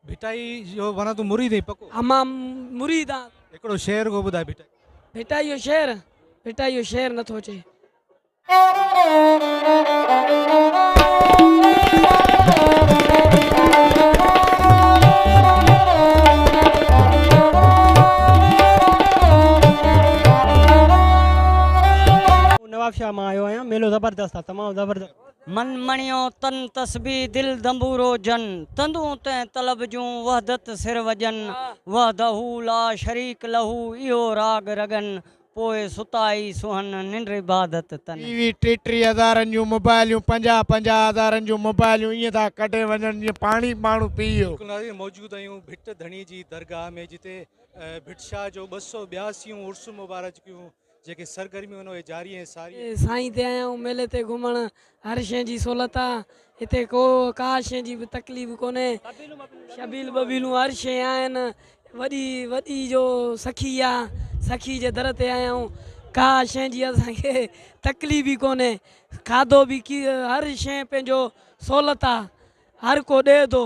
ڀٽائي جو وڻان تون مريد ائين پڪو. ها مان مريد آن. هڪڙو شعر ڪو ٻڌاء ڀٽائي. ڀٽائي جو شعر ڀٽائي جو شعر نٿو اچي. نوابشاهه مان آيو آهيان ميلو زبردست آ تمام زبردست. من مڻيو تن تسبيح دل دنبورو جن تندون تنهن طلب جون وحدت سر وڄن وحده لا شريڪ له اهو راڳ رڳن پوء ستائي سونهن ننڊ عبادت تن. ٽي وي ٽي ٽي هزارن جون موبائليون پنجاهه پنجاهه هزارن جون موبائليون ائين ٿا ڪڍي وڃن جيئن پاڻي ماڻهو پيئي. بلڪل ناظرين موجود آهيون ڀٽ ڌڻي جي درگاهه ۾ جتي ڀٽ شاهه جو ٻه سؤ ٻياسيون عرس مبارڪ جون جيڪي سرگرميون هن اهي جاري ۽ ساري آهن. سائين تي آيا آهيون ميلي تي گهمڻ هر شئي جي سهولت آ هتي ڪو ڪا شئي جي به تڪليف ڪونهي شبيل ٻبيلون هر شئي آهن وڏي وڏي جو سخي آ سخي جي در تي آيا آهيون ڪا شئي جي اسان کي تڪليف ئي ڪونهي کاڌو به هر شئي پنهنجو سهولت آ هر ڪو ڏئي ٿو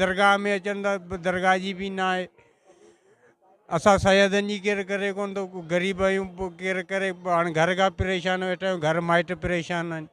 درگاهه ۾ اچن ٿا درگاهه جي به نه آهي اسان سيادن جي ڪير ڪري ڪون ٿو غريب آهيون ڪير ڪري هاڻي گهر کان پريشان ويٺا آهيون گهر مائٽ پريشان آهن